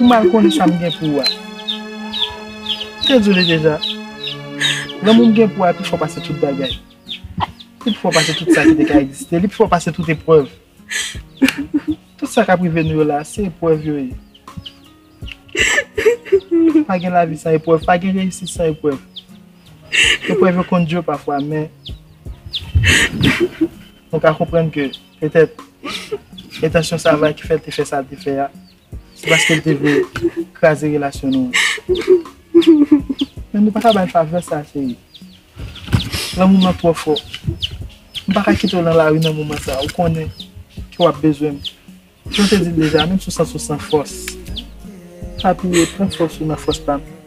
Ou mal konnen sa m gen pou ou a. M te di w li deja, lanmou m gen pou ou a pi fò pase tout bagay. Li pi fò pase tout sa ki te ka egziste. Li pi fò pase tout eprèv. Tout sa k ap rive nou yo la, se eprèv yo ye. Pa gen lavi san eprèv, pa gen reyisit san eprèv. Eprèv yo konn di yo pafwa men, nou ka konprann ke. Petèt, entansyon Sava ki fè l te fè sa l te fè a, se paske l te vle kraze relasyon nou an. Men nou pa ka ba l favè sa a, cheri. Lanmou m lan twò fò. M pa ka kite w nan lari nan moman sa a. Ou konnen ke w ap bezwen m. Jan m te di l deja, menm si w santi w san fòs, pa bliye, pran fòs ou nan fòs pa m.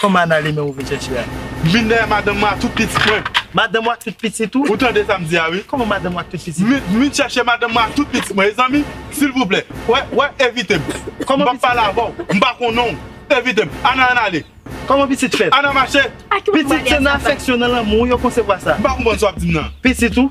Kòman Ana ale menm ou vin chèche a? M vin dèyè madanm mwen ak tout pitit mwen. Madanm ou ak tout pitit ou? Ou tande sa m di a wi. Kòman madanm ou ak tout pitit ou? M vin chèche madanm mwen ak tout pitit mwen ezanmi silvouplè wè wè evite m. M pap pale avè w m pa konnen w evite m. Ana ann ale. Kòman pitit fèt? Ana mache. Pitit se nan afèksyon nan lanmou yo konsevwa sa. M pa konprann sa w ap di m nan. Pitit ou?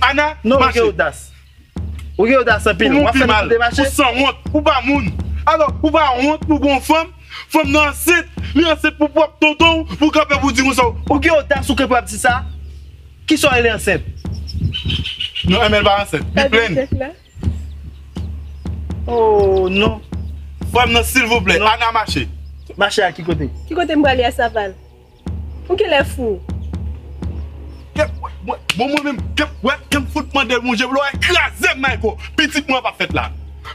Ana mache. Ou gen odas anpil. Ou mouri mal. Ou sanwont. Ou pa moun. Alò ou pa wont pou gon fanm. Fanm nan ansent. Li ansent pou pwòp tonton ou. Pou kanpe pou di moun sa. Ou gen odas ou kanpe ap di sa. Kisa ou rele ansent. Non Emèl pa ansent. Li plenn. Ooh non. Frèm nan silvouplè. Ana mache. Mache a ki kote. Ki kote m prale a saval. Ou genlè fou. Kep wè mwen bon mwen menm kep wè kem fout mandel bon je vle wè krazem mayko pitit mwen pap fèt la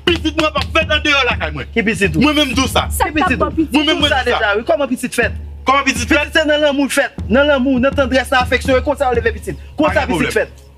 pitit mwen pap fèt andeyò lakay mwen ki pitit ou mwen menm diw sa ki pitit ou mwen menm mwen diw sa kòman pitit fèt kòman pitit fèt pitit se nan lanmou l fèt nan lanmou nan tandrès nan afeksyon e konsa yo leve pitit konsa pitit fèt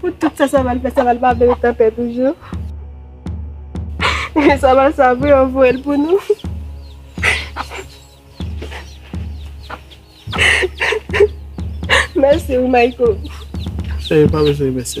Pou tout sa Saval fè, Saval pa vle otan pè toujou. Ehe Saval sa vre yo voye l pou nou. Mèsi ou Mayko. Cheri pa bezwen mèsi.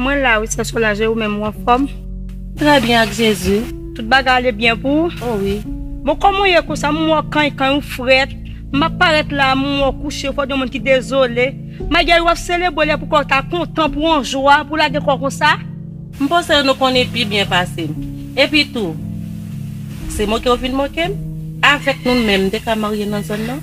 Mwen la wi sè Solange e ou menm ou anfòm? Trè byen ak Jezi. Tout bagay ale byen pou ou? O wi. Bon kòman ou ye konsa m wè w kany kany ou frèt, m ap parèt la a m wè w kouche fò w di yon moun ki dezole. Magew ou ap selebre lè pou kè w ta kontan pou w an jwa pou w lage kò w konsa? M panse nou konnen pi byen pase m. Epi tou, se moke ou vin moke m? Avèk nou menm m te ka marye nan zòn nan?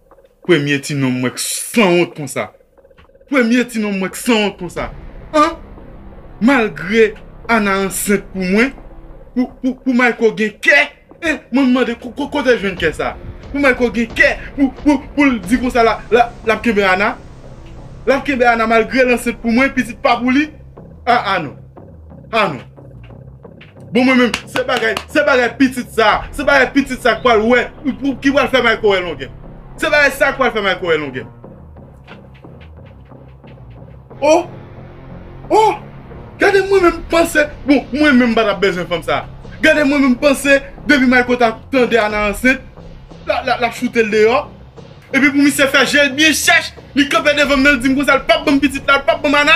Premye ti nonm mwen k sanwont konsa Premye ti nonm mwen k sanwont konsa An Malgre Ana ansent pou mwen Pou pou pou Mayco gen kè eh Mwen m mande kote l jwenn kè sa Pou Mayco gen kè pou pou pou l di konsa la la l ap kenbe Ana L ap kenbe Ana malgre l ansent pou mwen pitit pa pou li Ah ah non Ah non Bon mwen menm se bagay se bagay pitit sa se bagay pitit sa k pral wè ki pral fè Mayco wè longè se bagay sa k pral fè Mayco wè longè o o gade mwen menm panse bon mwen menm m pa t ap bezwen fanm sa gade mwen menm panse depi Mayco ta tande Ana ansent l ap choute l deyò Epi pou misye fè jel byen chèch li kanpe devanm nan li dim konsa li pap banm pitit la li pap banm Ana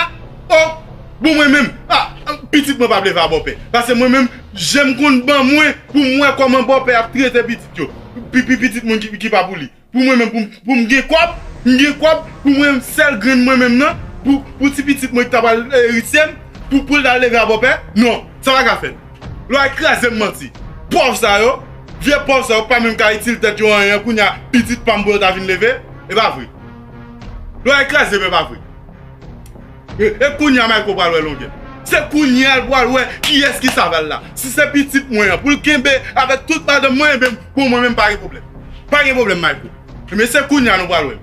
oh bon mwen menm ah pitit mwen pa vle va bòpè pase mwen menm jem konn ban mwen poum wè kòman bòpè ap trete pitit yo pipi pitit moun ki pa pou li pou mwen menm poum gen kòb m gen kòb pou mwen sèl grenn mwen menm nan pou ti pitit mwen ki ta pral erityem poul ta leve a bòpè non sa pa ka fèt. Lwa krazem manti. Pòv sa yo, vye pòv sa yo pa menm ka itil tèt yo anyen kounya pitit pam pou yo ta vin leve, epa vre. Lwa krazem epa vre. E kounya Mayko pral wè longè. Se kounya l pral wè kiyès ki saval la. Si se pitit mwen an poul kenbe avèk tout madanm mwen enben pou mwen menm pa gen pwoblèm. Pa gen pwoblèm Mayko. Enben se kounya nou pral wè l.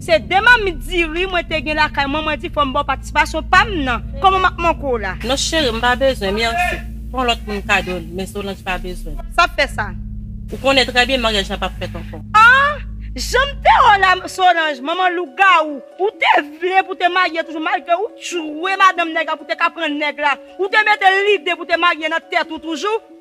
Se 2 mamit diri mwen te gen lakay mwen mwen di fòm baw patisipasyon pam nan kòman map manke w la. Non cheri m pa bezwen merci pran lòt moun kado l men Solange pa bezwen. Sa fè sa. Ou konnen trè byen maryaj la pap fèt ankò. Ahh janm te wèw la Solange manman lougawou ou te vle pou te marye toujou malgre ou t jwe madanm nèg la pou te ka pran nèg la ou te mete lide pou te marye nan tèt ou toujou.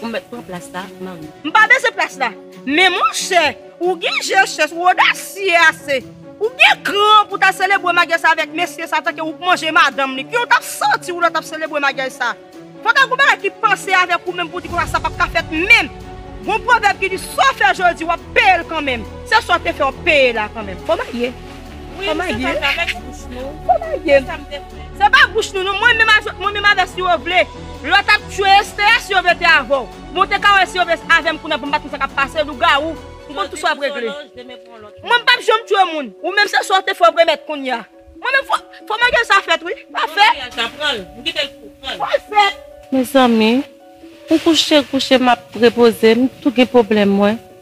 Ou met pran plas la manmi. M pa bezwen plas la. Men monchè, ou gen je chèch, ou odasye ase. Ou gen kran pou ta selebre magyaj sa avèk mesye sa tanke ou k manje madanm li. Kijan w t ap santi w lè w t ap selebre magyaj sa? Fò ta gen yon bagay ki pase avèk ou menm pou w di konsa sa p ap ka fèt menm. Gen yon pwovèb ki di sa w fè jodi w ap peye l kanmenm. Se sa w te fè w ap peye la kanmenm. Bon marye. Wi m se pa travèks bouch nou. Kòmagye. Se sa m te vle. Se pa bouch nou non. Mwen menm avèk mwen menm avèk si yo vle. Lò t ap tchwe Esthea si yo vle te avè w. Men w te ka wè si yo vle avè m kounye a pou m pa t konn sa k ap pase. Lougawou. M konn tout sa w ap regle. Jodi m sou yon lòj demen pou yon lòt lòj. Mwen m p ap janm tchwe moun. Ou menm se sa w te fè w p remèt kounye a. Mwen menm fò fò maryaj sa fèt wi. Pa fèt. Fò maryaj sa pran l. M kite l pou w pran l. Fò l fèt. Mezanmi. M kouche kouche m ap repoze m tou gen pwoblèm mwen.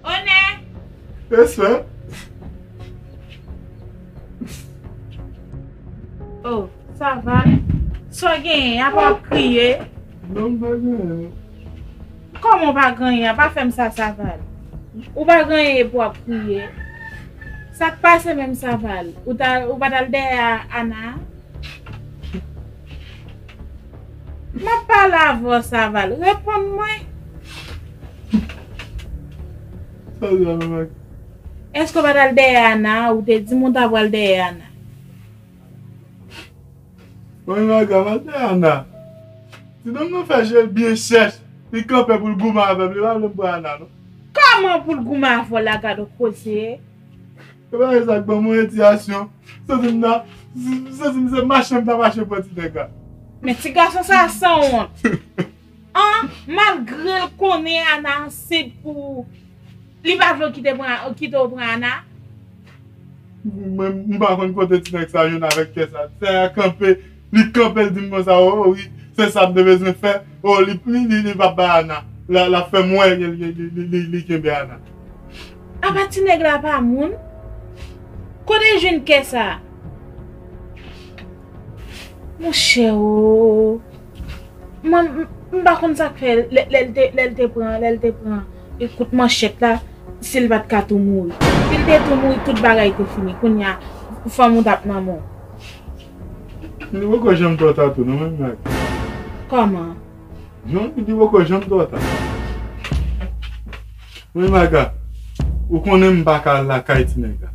Onè! Respè! O, sa va? Sa w genyen? Apa w ap kriye? Non m pa genyen. Kòman w pa genyen? Apa fè m sa Saval. Ou pa genyen epi w ap kriye? Sa k pase menm Saval? Ou pa t al dèyè Ana a? M ap pale avè w Saval. Reponn mwen. Sa li la menm ak. Èske w pa t al dèyè Ana? Ou te di m ou ta pral dèyè Ana. Mwen menm ak Ana te dèyè Ana. Ti nonm nan fè je l byen chèch. Li kanpe pou l goumen avè m. Li pa vle m pran Ana non. Kòman pou l goumen avè w la gad on koze. E pa gen sa k ban mwen endiyasyon. M santi m ta. M santi m se mache m ta mache pran ti nèg la. Men ti gason sa a san wont. An, malgre l konnen Ana ansent pou ou, li pa vle w kite pran, kite w pran Ana? Mwen menm, m pa konn kote ti nèg sa a jwenn avèk kè sa a. Ti sa a kanpe. Li kanpe l dim konsa oo wi se sam te bezwen fè oo li pap bay Ana lap fèm wè li kenbe Ana. Apa ti nèg la pa moun? Kote l jwenn kè sa? Monchè oo m pa konn sak fè lè l te pran lè l te pran kout manchèt la si l pat ka tou mouri. Si l te tou mouri tout bagay te fini kounya fanm ou tap nan men w. Li poko janm two ta tou non menm jan ak mwen. Koman? Non li di poko janm two ta. Menm ak a ou konnen m paka al lakay ti nèg la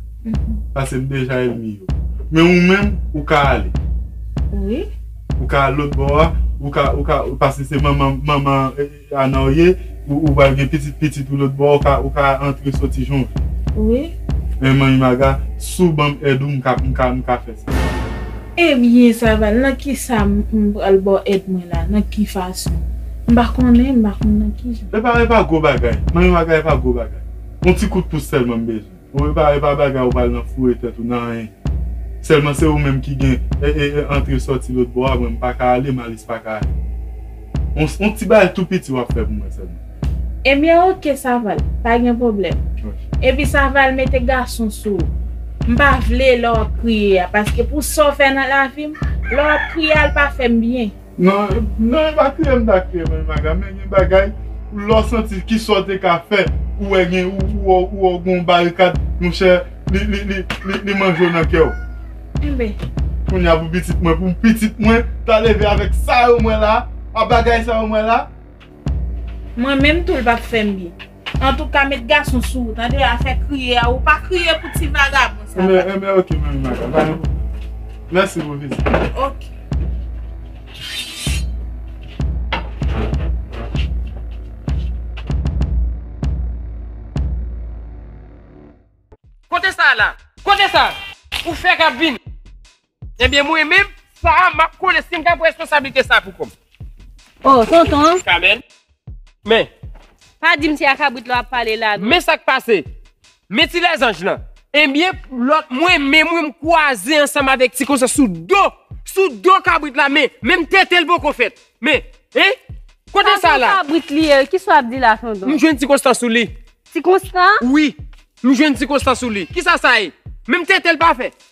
pase m deja elmi yo. Men ou menm ou ka ale. Wi. Ou ka al lotbò a ou ka ou ka pase se manman manman Kana w ye ou ou pral gen pitit pitit ou lòt bò ou ka ou ka antre soti jan w vle. Wi. Eeh manmi Maga si w banm èd ou m ka m ka m ka fè sa. Ebyen Saval nan kisa m pral ba w èd mwen la nan ki fason? M pa konnen m pa konn nan kijan. Epa epa gwo bagay manmi Maga epa gwo bagay on ti kout pous sèlman m bezwen. Bon e pa e pa bagay ou pral nan foure tèt ou nan anyen sèlman se ou menm ki gen e e e antre sòti lòt bò a mwen m pa ka ale Malis pa ka ale on on ti bagay tou piti wap fè pou mwen sèlman. Ebyen ok Saval pa gen pwoblèm epi Saval mete gason sou ou m pa vle lè wap kriye a paske pou sa w fè nan lavi m lè wap kriye a l pa fè m byen. Nan evakiye m ta kriye mwen menm aga men gen bagay lè w santi kisa w te ka fè ou wè gen ou wè gon barikad monchè li manje w nan kè w kounye a pou pitit mwen pou pitit mwen ta leve avèk sa yo m wè la a bagay sa yo m wè la. Mwen menm tou l pap fè m byen. Antouka met gason sou ou tande afè kriye a ou pa kriye pou ti vagabon sa la. Enben enben ok manmi Maga ba yo pou mwen. Mèsi pou vizit la. Ok. Kote sa la? Kote sa ou fè kap vini? Ebyen mwen menm sa map konnen sim ka pran responsablite sa pou kòm. Oh tonton. Kamèn. Men. Pa dim se a kabrit la wap pale la non. Men sak pase. Men ti lèzanj lan. Ebyen lot mwen menm wi m kwaze ansanm avek ti konsa sou do sou do kabrit la men menm tetel poko fèt men hein kote sa la. Sa son kabrit li ye kisa wap di la tonton. M jwenn ti konstan sou li. Ti konstan? Wi m jwenn ti konstan sou li kisa sa ye menm tetel pa fèt.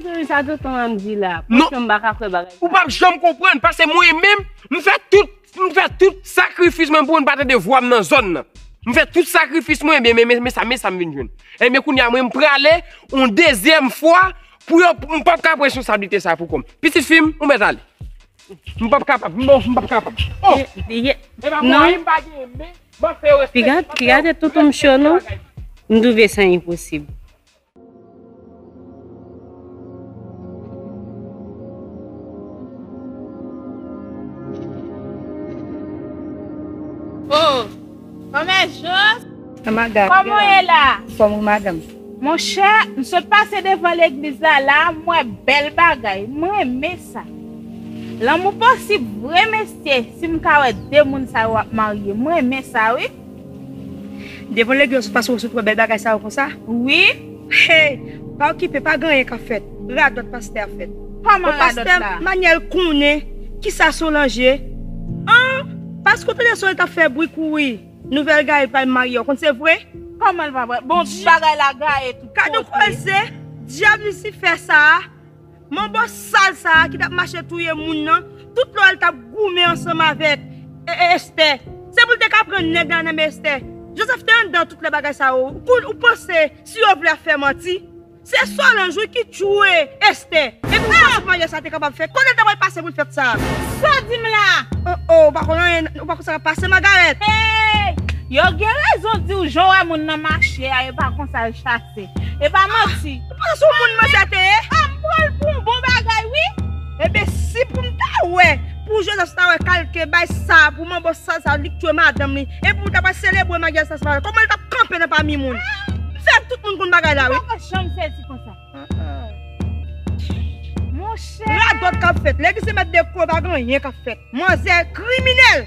Jerry sa tonton an di la. Non. Pouki yo m pa ka kwè bagay sa. Ou pap janm konprann paske mwen menm m fè tout m fè tout sakrifis mwen pou moun pa tande vwa m nan zòn nan. M fè tout sakrifis mwen ebyen men men sa men sa m vin jwenn. Ebyen kounye a mwen m prale yon dezyèm fwa pou yo m pap ka pran responsablite sa pou kò m. Pitit fi m ou mèt ale. M pap kapab non m pap kapab. Oh! Ye e pa mwen m pa gen men m ap fè yo respekte m. Pi gade tonton m cho non. M twouve sa enposib. Oh! Kòmè Jos? Oh my God, Kòman ou ye la? Fòm ou madanm? Mon chè, m sot pase devan legliz la la a, m wè bèl bagay. M renmen sa. Lanmou posib vre mesye, si m ka wè de moun sa yo ap marye. M renmen sa wi. Devan legyon sou fason sot wè bèl bagay sa yo konsa wi hey pa okipe pa gen anyen kap fèt radòt pastè a fèt bon pastè Manuel konnen kisa Solange an paske ou tande Solange tap fè bri kou wi nouvèl Gaël pral marye ou konn se vre komanl pa vre bon bagay la Gaël tout kote. Gadon koze dyab lisifè sa. Manbo sal sa a ki t ap mache touye moun nan, tout lò l t ap goumen ansanm avèk Estè, se pou l te ka pran nèg la nan men Estè. Joseph te anndan tout lè bagay sa yo. Ou panse si yo vle ap fè manti? Se Solange wi ki tchouwe Estè. Epi ou panse maryaj sa a te kapab fèt? Kote l ta pral pase pou l fèt sa a? Sa w di m la? O o, ou pa konn anyen, ou pa konn sa k ap pase Margaret? Hey! Yo gen rezon di w jan w wè moun nan mache a yo pa konn sa l chase. E pa manti. Ou sou moun mwen sa te ye. Ah m pranl pou yon bon bagay wi. Ebyen si pou m ta wè pou Joseph ta wè kalte bay sa pou manbo sal sa li k tue madanm li epi ou ta pral selebre maryaj sa se pa wè kòman l tap kanpe nan pami moun m fè tout moun konn bagay la wi. Li poko janm sezi konsa. Monchè. Radòt kap fèt. Lè ki se mèt de kwe pa gen anyen kap fèt. Manzè kriminèl.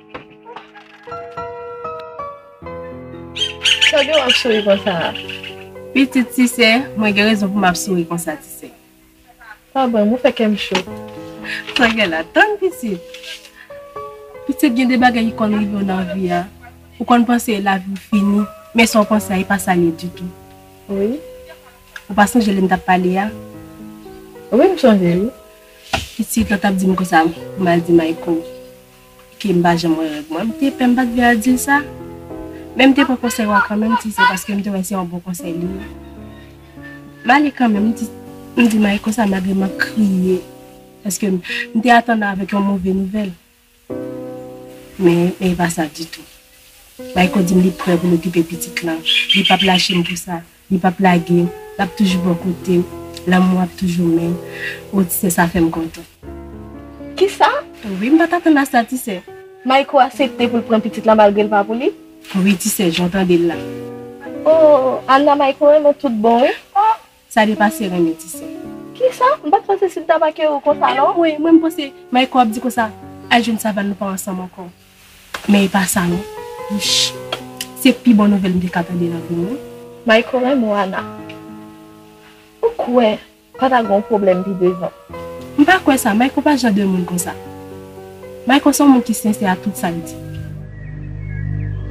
Tande wap souri konsa a. Pitit tisè, mwen gen rezon pou map souri konsa tisè. Pa banm, ou fè kèm cho. Tangue la, tann pitit. Pitit gen de bagay ki konn rivew nan vi a, ou konn panse laviw fini, men sa ou panse a e pa sa l ye ditou. Wi. Ou pa sonje lèm tap pale a? Wi m sonje wi. Pitit, lè w tap dim konsa, pou mal di Mayko. Kem pa janm wè règ mwen. M te pè m pat vle al dil sa. Men m te pran konsèy ou a kanmenm ti se paske m te wè se yon bon konsèy li ye. M ale kanmenm m di m di Mike konsa malgre map kriye paske m te atann avèk yon move nouvèl. Men e pa sa ditou. Mayko di m li prè pou l okipe pitit lan. Li pap lache m pou sa. Li pap lage, lap toujou bò kotew, lanmou ap toujou men, oh ti sè sa fèm kontan. Kisa? Wi, m pat atann a sa ti sè. Mayko asepte poul pran pitit la malgre l pa pou li? Wi ti sè, jan w tande l la. Oh Anna Mayko renmen tout bon wi. Oh sa depase renmen ti sè. Kisa? M pat panse Sidda pa kere w konsa non. Anmwey, mwen m panse Mayko ap di konsa, al jwenn Savann nou pa ansanm ankò. Men e pa sa non. Wouch. Se pi bon nouvèl m te ka tande nan vi m wi. Mayko renmn Wana. Ou kwè pa ta gen yon pwoblèm pi devan. M pa kwè sa, Mayko pa jan de moun konsa. Mayko se yon moun ki sensè a tout sa l di.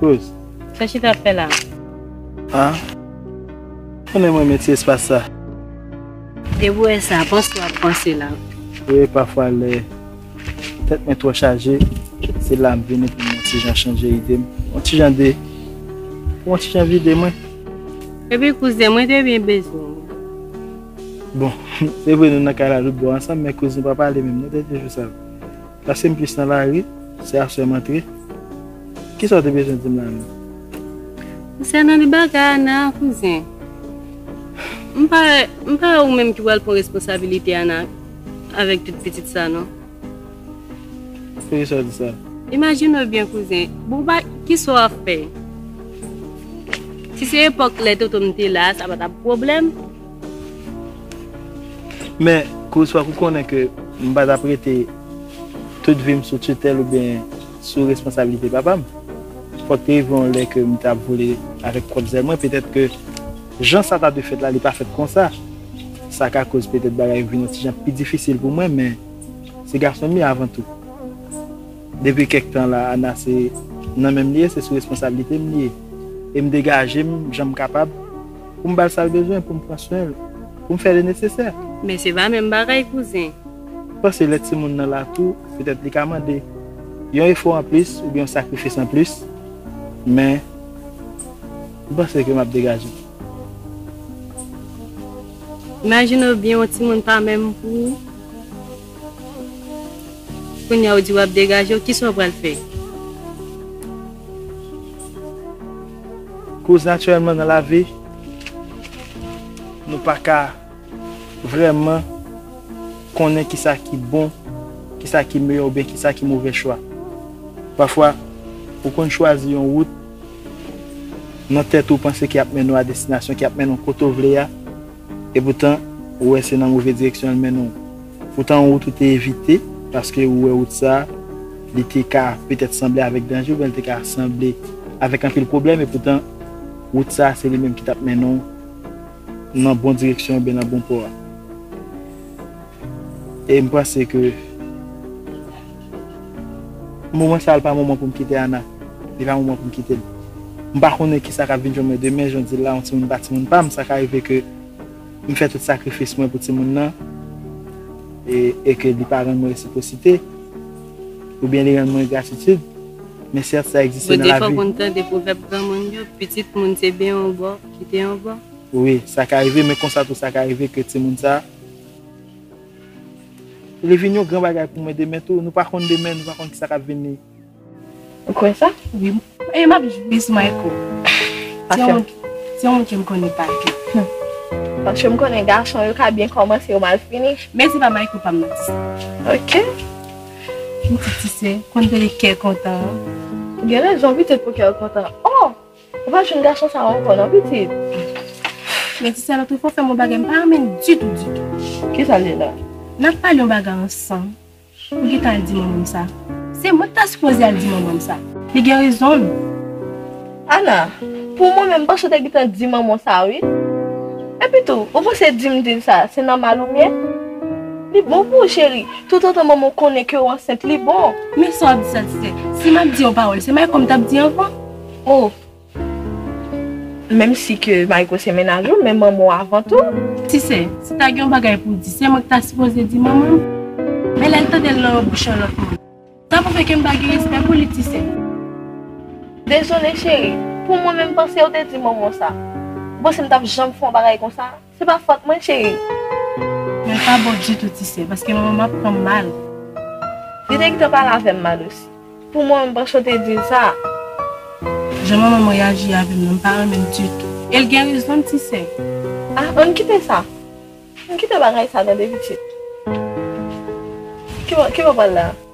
Kouz. Sa Chita ap fè la? Ha? Ou menm renmen ti espas sa? Debouè sa, panse wap panse la. Wi, pafwa lè tèt mwen twò chaje, se la m vini pou m yon ti jan chanje ide m. Yon ti jan de. Pou yon ti jan vide mwen. Epi kouzen, mwen te byen bezwen ou. Bon, se vre nou nan kay la tout bon ansanm, men kouz nou pa pale menm non dènye jou sa yo. Pase m plis nan lari, sè a sè m antre. Kisa w te bezwen di m la menm? Konsènan li bagay Ana a kouzen, m pa wè, m pa wè ou menm ki pral pran responsabilite Ana avèk tout pitit sa non. Poukisa w di sa? Imajine w byen kouzen, bon w pa, kisa w ap fè? Si se epòk lè tonton m te la a sa pa t ap pwoblèm, Men, Chris fòk ou konnen ke m pa t ap rete tout vi m sou titèl oubyen sou responsabilite papa m. Fòk te rive yon lè ke m ta vole avèk pwòp zèl mwen. Petèt ke jan sa ta dwe fèt la, li pa fèt konsa. Sa ka koz petèt bagay yo vin yon ti jan pi difisil pou mwen, men se gason m ye avan tou. Depi kèk tan la, Anna se nan men m li ye, se sou responsabilite m li ye. E m degaje m jan m kapab. pou m ba l sa l bezwen, pou m pran swen l, pou m fè le nesesè. Men se pa menm bagay kouzen. M panse lè timoun nan lakou, petèt li ka mande yon efò anplis oubyen yon sakrifis anplis, men m panse ke m ap degaje m. Imajine w byen yon timoun pa menm pou ou, kounya ou di w ap degaje w, kisa w pral fè? Koz natirèlman nan lavi nou pa ka vrèman konnen ki sa ki bon, ki sa ki meyè oubyen ki sa ki move chwa. Pafwa ou konn chwazi yon wout nan tèt ou panse ki ap mennen w a destinasyon, ki ap mennen w kote w vle a, E poutan, ou wè se nan move direksyon l mennen w. Poutan wout ou te evite, paske ou wè wout sa a, li te ka petèt sanble avèk danje oubyen li te ka sanble avèk anpil pwoblèm, e poutan, wout sa a se li menm ki t ap mennen w nan bon direksyon oubyen nan bon pò a. E m panse ke. Moman sa pa moman pou m kite Ana. Li pa moman pou m kite l. M pa konnen ki sa k ap vin jwenn mwen demen, jan w di l la, yon timoun pa timoun pa m. Sa ka rive ke m fè tout sakrifis mwen pou timoun nan e ke li pa rann mwen resiprosite, oubyen li rann mwen engratitid. Men sèt, sa egziste nan lavi. Ou defwa konn tande pwovèb granmoun yo, pitit moun se ben yon bò, kite yon bò? Wi, sa ka rive, men konsa tou sa ka rive ke timoun sa. Li vin yon gran bagay pou mwen demen tou, nou pa konn demen, nou pa konn kisa k ap vini. Ou kwè sa? Wi. E m ap jwi sou Mayko. Se yon moun, se yon moun ke m konnen pa piti. Paske m konnen gason yo ka byen kòmanse yo mal fini. Men se pa Mayko pa m nan se. Ok. Pitit ti sè, konn tande kè kontan an. Ou gen rezon pitit pou kè w kontan. O! Ou pa jwenn gason sa yo ankò non pitit. Men ti sè lotrifwa fèm yon bagay m pa renmen ditou ditou. Kisa l ye la? Nap pale yon bagay ansanm ou gentan al di manman m sa. Se mwen ki ta sipoze al di manman m sa. Li gen rezon l. Ana, Pou mwen menm m panse w te gentan di manman w sa wi. Epi tou ou panse di m di l sa se nòmal ou byen? Li bon pou ou cheri, toutotan manman w konnen ke w ansent li bon. Men sa w ap di sa ti sè. Si map di yon pawòl se Mayko m tap di anvan. Oh Menm si ke Mayko se mennaj ou men manman w avan tou. Tisè, si ta gen yon bagay pou w di se mwen ki ta sipoze di manman m. Men lè l tande l nan yon bouch yon lòt moun. Sa pwouve ke m pa gen respè pou li Tisè. Dezole cheri, pou mwen menm panse w te di manman w sa. Ou panse m t ap janm fè yon bagay konsa? Se pa fòt mwen cheri. Mwen pa bon ditou ti sè paske manman m ap pran m mal. Li te gentan pale avè m mal osi. Pou mwen m panse w te di l sa a. Jan manman m reyaji avè m nan m pa renmen l ditou. E l gen rezon l ti sè. Ah ann kite sa. Ann kite bagay sa tande pitit. Ki bo w pral la a?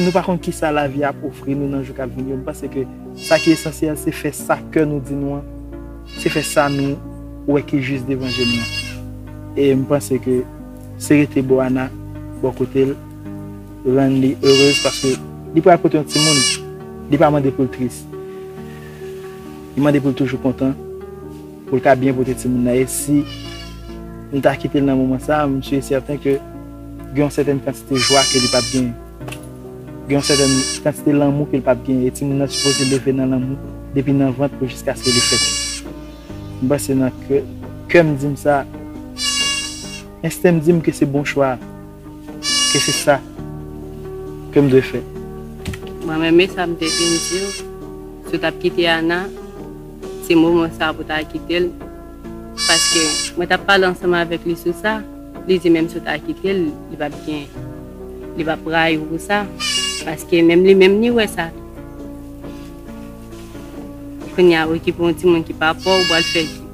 Nou pa konn kisa lavi a ap ofri nou nan jou kap vini yo, nou panse ke sa ki esansyèl se fè sa kè nou di nou an, se fè sa nou wè ki jis devan je nou an. E m panse ke se rete bo Ana bò kote l rann li erez paske li pral pote yon timoun, li pa mande pou l tris. Li mande pou l toujou kontan, pou l ka byen pote timoun nan e si m ta kite l nan moman sa, m si e sèten ke gen yon sètèn kantite jwa ke li p ap genyen. Gen yon sètèn kantite lanmou ke l p ap genyen e timoun nan sipoze leve nan lanmou depi nan vant pou jiskaske li fèt. M panse nan kè m di m sa, ensten m di m ke se bon chwa a. Ke se sa ke m dwe fè. Mwen renmen sa m te fin di w. Si w t ap kite Ana, se moman sa a pou w ta kite l. Paske mwen t ap pale ansanm avèk li sou sa, li di menm si w ta kite l, li pap gen, li pap rayi w pou sa. Paske menm li menm li wè sa tou. Kounye a, okipe yon timoun ki pa pa w, w pral fè ki?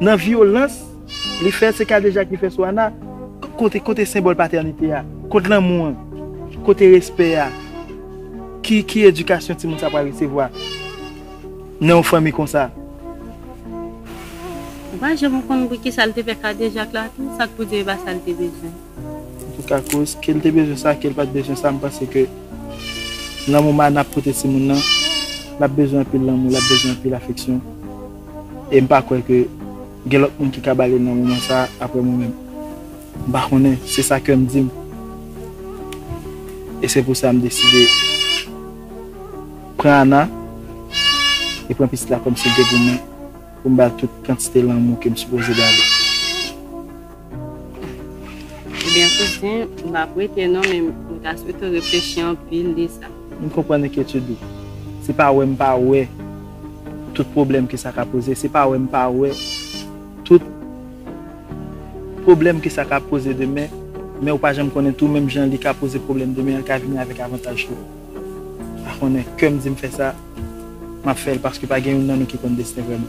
Nan vyolans li fè se kadejak li fè sou Ana kote kote senbòl patènite a kot lanmou an kote respè a ki ki edikasyon timoun sa pral resevwa nan yon fanmi konsa. Ou pa janm konn pou kisa l te fè kadejak la tou sa k pou di e pa sa l te bezwen. Antouka koz ke l te bezwen sa ke l pat bezwen sa m panse ke lanmou m Ana ap pote timoun nan l ap bezwen anpil lanmou l ap bezwen anpil afeksyon. e m pa kwè ke gen lòt moun ki ka ba li nan moman sa a aprè mwen menm. M pa konnen, se sa kè m di m. E se pou sa m deside pran Ana e pran pitit la kòm si l te pou mwen, pou m ba l tout kantite lanmou ke m sipoze ba li. Ebyen kouzen, m pap wete non men m ta swete w reflechi anpil de sa. M konprann enkyetid ou. Se pa wè m pa wè tout pwoblèm ke sa ka poze, se pa wè m pa wè tout pwoblèm ke sa ka poze demen, men ou pa janm konnen tou menm jan li ka poze pwoblèm demen an ka vini avèk avantaj tou. Pa konnen, kè m di m fè sa, m ap fè l paske pa gen youn nan nou ki konn desten vrèman.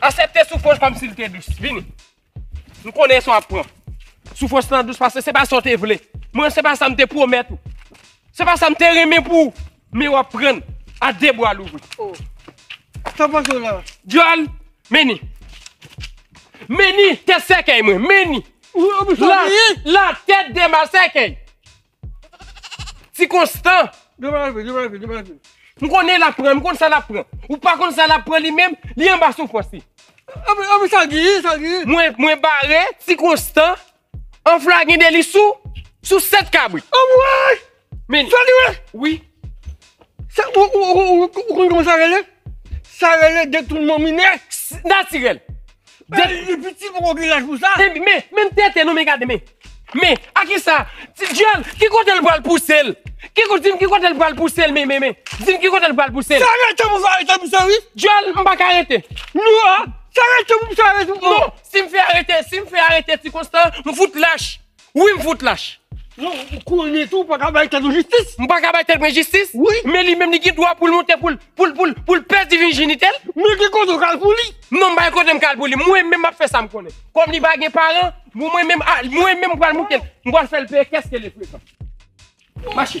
Asepte soufwans kòm si li te dous. Vini. Nou konnen sa ap pran. Soufwans nan dous pase se pa sa ou te vle. Mwen se pa sa m te pwomèt ou. Se pa sa m te renmen pou ou. Men wap prann a de bwa louvri. Oh. Sa pase la. Dyol, meni. Meni tèt sèkèy mwen, meni. La, la tèt de ma sèkèy. Ti konstan. Di pa di, di pa di, di pa di. M konnen lap pran, m konnen sa lap pran. Ou pa konnen sa lap pran li menm, li anba soufrans li. Anba sa di, sa di. Mwen, mwen bare ti konstan. Anfl la gen deli sou sou 7 kabrit. Anmwey! Men Fedime! Wi. Sa ou ou konn kòman sa rele? Sa rele detounman minè. Natirèl. Men li piti poko gen laj pou sa. Men menm tete non men gade men. Men a kisa? Ti dyòl ki kote l pral pouse l? Ki kote dim ki kote l pral pouse l men men men. Dim ki kote l pral pouse l? Sa rete pou sa rete pou sa wi. Dyòl m paka rete. Non a! Sa rete pou sa rete. Non. Si m fè arete, si m fè arete ti konstan, m fout lach. Wi m fout lach. Non, ou konnen tou ou pa ka bay tèt ou jistis. M pa ka bay tèt mwen jistis? Wi. Men li menm li gen dwa pou l monte pou l, pou l, pou l, pou l pèdi vijinite l. Men ki kote ou ka l pou li? Non m pa gen kote m ka l pou li. Mwen menm m ap fè sa m konnen. Kòm li pa gen paran, bon mwen menm, a, mwen menm m pral monte l. M pral fè l peye kès ke li frekan. Mache.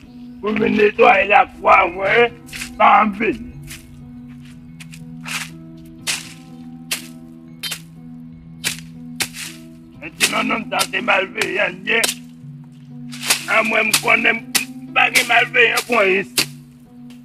Mwen vin netwaye la kwa a voye paranm beni. Mwen ti nan nonm sa se malveyan li ye. A mwen m konnen m pa gen malveyan kon is.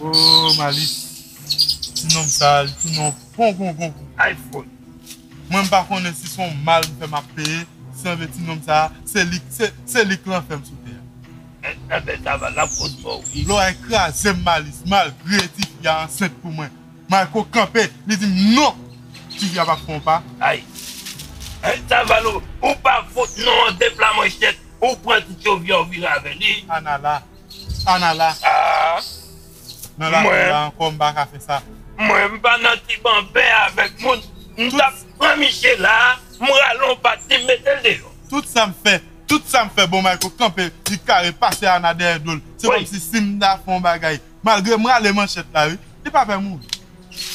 Ooh Malis ti nonm sa li tounen yon pongongon pou iphone mwen m pa konnen si son mal m fè map peye sanble ti nonm sa se li se li k lanfè m sou tè a. Anbè Taval lap konn mò wi. Loray krazem Malis malgre ti fi a ansent pou mwen Mayko kanpe li dim non ti fi a pa fè yon pa. Ay Anh Taval ou pa fout non an depla manchet ou pran ti tchovyè ou vire avèl ii. Ana la Sa nala Nala fè la ankò mpa ka fè sa. Mwen m pa nan ti banben avèk moun m tap pran misye la m rale yon bat li m metel deyò. Tout sam fè tout sam fè bon Mayko kanpe li kare pase Ana dèyè dol se kòmsi sim ta fè yon bagay malgre m rale manchèt la wi li pa pè mouri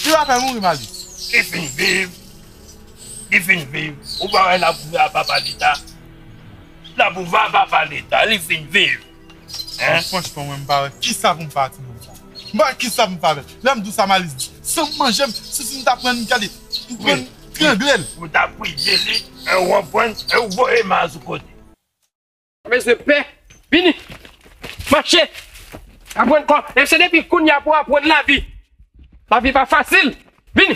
li pa pè mouri Mali. Li fin viv li fin viv ou pa wè lap ou va papa leta lap ou va papa leta li fin viv. Mwen franchman mwen mpa wè kisa pou m fè a ti moun sa. M pa wè kisa pou m fè avè l. Lè m di w sa Malis di, san m manje m, sisi m ta pran n gade, m pran n trangle l. Ou ta priye li e ou anpwen e ou voye ma sou kote. Mpa bezwen pè. Vini. Mache. Aprann kò. E se depi kounya pou aprann lavi. Lavi pa fasil. Vini.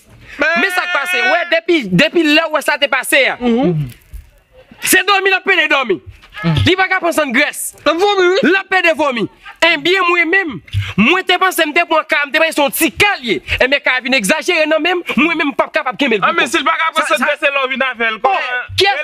Men sak pase, wè depi depi lèw wè sa te pase a se dòmi lap pede dòmi li pa ka pran san grès lap pede vomi enbyen mwen menm mwen te panse m te pran ka a m te panse se yon ti ka l ye enbyen ka a vin egzajere nan menm mwen menm m pap kapab kenbe l pi fò. An men sil pa ka pran san grès e lè w vin avèl kòman? Bon, kiyès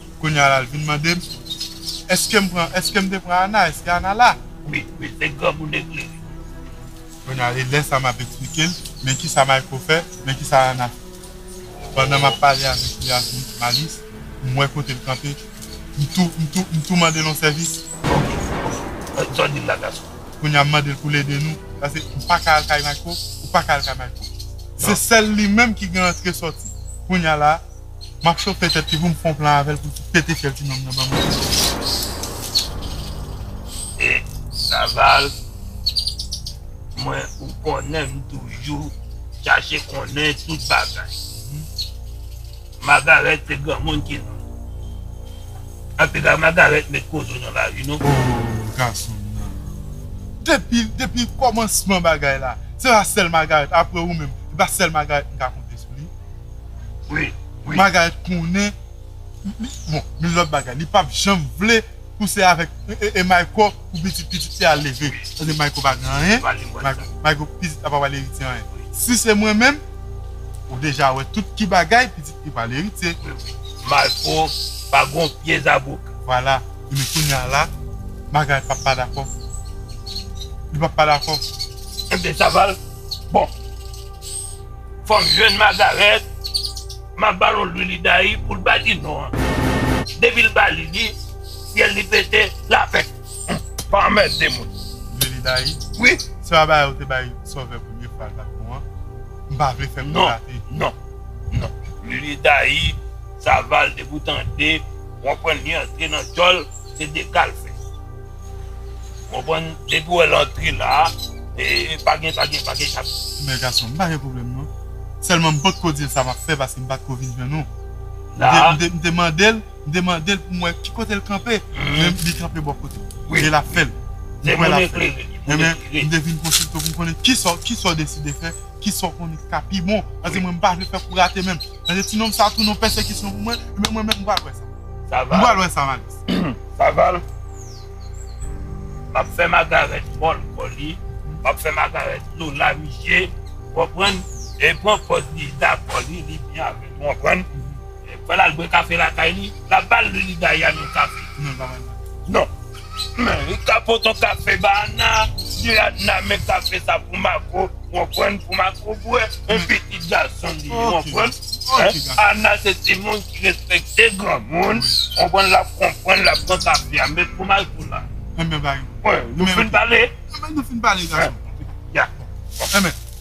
Kounya la l vin mande m Eske m pran Eske m te pran Ana Eske Ana la Wi wi se granmoun eklere Kounya e lè sa m ap eksplike l Men kisa Mayko fè Men kisa Ana fè Pandan m ap pale avèk li ak Malis m wè kote l kanpe M tou m tou m tou mande l yon sèvis Sa w di m la gason Kounya m mande l pou l ede nou Pase m pa ka al kay Mayko Ou pa ka al kay Mayko Se sèl li menm ki gen antre sòti Kounya la Map chofe tèt li poum fon plan avèl poul fout pete fyèl ti nonm nan banm lèd non. E saval mwen ou konnen m toujou chache konnen tout bagay Magarèt se granmoun ki non antouka Magarèt met kozo nan lari non. Ohh gason nan depi depi kòmansman bagay la se pa sèl Magarèt aprè ou menm se pa sèl Magarèt m ka konte sou li. Wi wi. Bagay konnen bon min lot bagay li pap janm vle pou se avek mayko pou pitit pitit li al leve paske mayko pa gen anyen mayko pitit la pa pral eritye anyen si se mwen menm ou deja wè tout ki bagay pitit li pral eritye mayko pa gon pye zabouk. Vwala ebyen kounya la bagay pap pa dakò li pap pa dakò. Ebyen saval bon. Fòk jèn Magarèt map ba l yon lwi li dayi pou l pa di non an. Depi l ba li li, fyèl li pete, l a fèt. Humm, pa anmède moun. Lwi li dayi? Wi. Se pa bagay ou te bay Sovè premye fwa l pa t bon an? M pa vle fè pil gate. Non, non, non. Lwi li dayi, Saval depi w tande, w konprann li antre nan djòl, se dekal fè. Konprann depi wè lantre la e pa gen pa gen pa gen chak. Mè gason m pa gen pwoblèm non sèlman m potko dil sa map fè paske m patko vin jwenn ou m te mandel m te mandel pou m wè ki kotel kanpe men li kanpe bò kote m e lap fèl m kwè lap fèl ebyen m te vin konsiltew pou m konnen kisa kisaw deside fè kisa w konnen ki ka pi bon paske mwen m pa vle fè pou rate menm. Paske ti nonm sa tounen yon pèsekisyon pou mwen, men mwen menm m pral wè sa. Saval. M pral wè sa Malis. Saval, M'ap fè Magarèt mòl kò li, m'ap fè Magarèt dlo lari je, ou konprann? E pran pòz li dakò li, li byen avèl, ou konprann? Fè l'al bwè kafe lakay li, l'ap ba l' li li gaye a nan kafe. Non, li pa ba l' nan kafe. Non. Li ka pot on kafe ba Anna, di Anna men kafe sa pou Marco, ou konprann, pou Marco bwè, on pitit gason li ye, ou konprann. Anna se timoun ki respekte granmoun, ou konprann, l ap konprann, l ap pran kafe a, men pou Marco la. Enben bagay. Nou fin pale? Enben nou fin pale gason. Ya. Enben.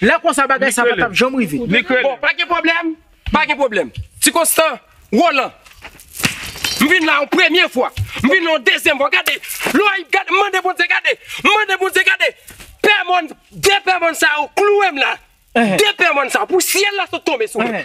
Lè konsa bagay sa pa tap janm rive. Bon, pa gen pwoblèm, pa gen pwoblèm. Ti Konstan, Rolan, m vin la yon premye fwa, m vin la yon dezyèm fwa. Gade, Loyip, gade, m mande Bondye, gade, m mande Bondye, gade, pè mòn, de pè mòn sa yo klouwe m la. De pè mòn sa yo, pou syèl la sot tonbe sou mwen.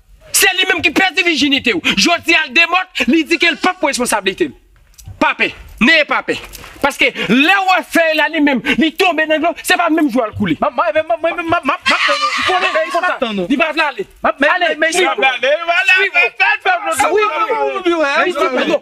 Se li menm ki pèdi vijinite w. Jodi a l demòt, li di ke l pap responsabilite l. Pa pè, neye pa pè. Paske lè w wè fèy la li menm li tonbe nan dlo, se pa menm jou a l koule. Mwen menm map tann ou. Ou konnen fèy konsa, li pa vle ale. Ale, swiv ou. Swiv ou. Swiv ou. Swiv ou.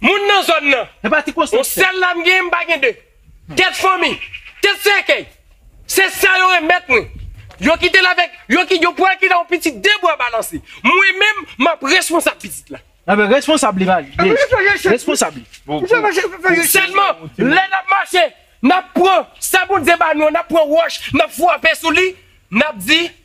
Moun nan zòn nan. Yon sèl la m genyen m pa gen de. Tèt fanmi, tèt sèkèy. Se sa yo renmèt mwen. Yo kite l avèk, yo ki, yo pral kite yon pitit de bwa balanse. Mwen menm, m ap responsab pitit la. Anben, responsab li va ye. Responsab li. Sèlman, lè n ap mache, n ap pran sa Bondye ba nou an, n ap pran wòch, n ap frape sou li, n ap di.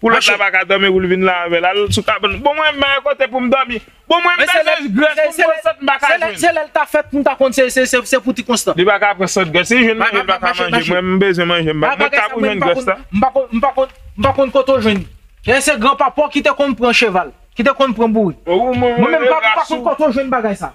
Koulèt la paka dòmi pou l vin la avè l. Al sou kabann. Bon mwen menm kote pou m dòmi. Bon mwen bezwen grès pou m pran sant m pa ka jwenn. Se lè l ta fèt pou m ta konn se pou ti konstan. Li paka pran sant grès. Si l jwenn manje l paka manje. Mwen m bezwen manje m pa. Mwen ka pou jwenn grès la. M pa konn m pa konn kote w jwenn li. Dayè se gran papa w ki te konn pran cheval. Ki te konn pran bourik. Mwen menm m pa konn kote w jwenn bagay sa.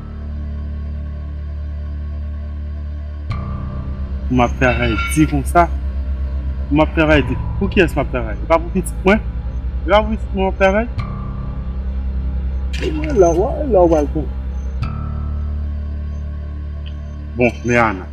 Pou map travay di konsa? Pou map travay di? Pou kiyès map travay? E pa pou pitit mwen? E pa pou pitit mwen map travay? Bon e lè ou pral pran? Bon men Ana.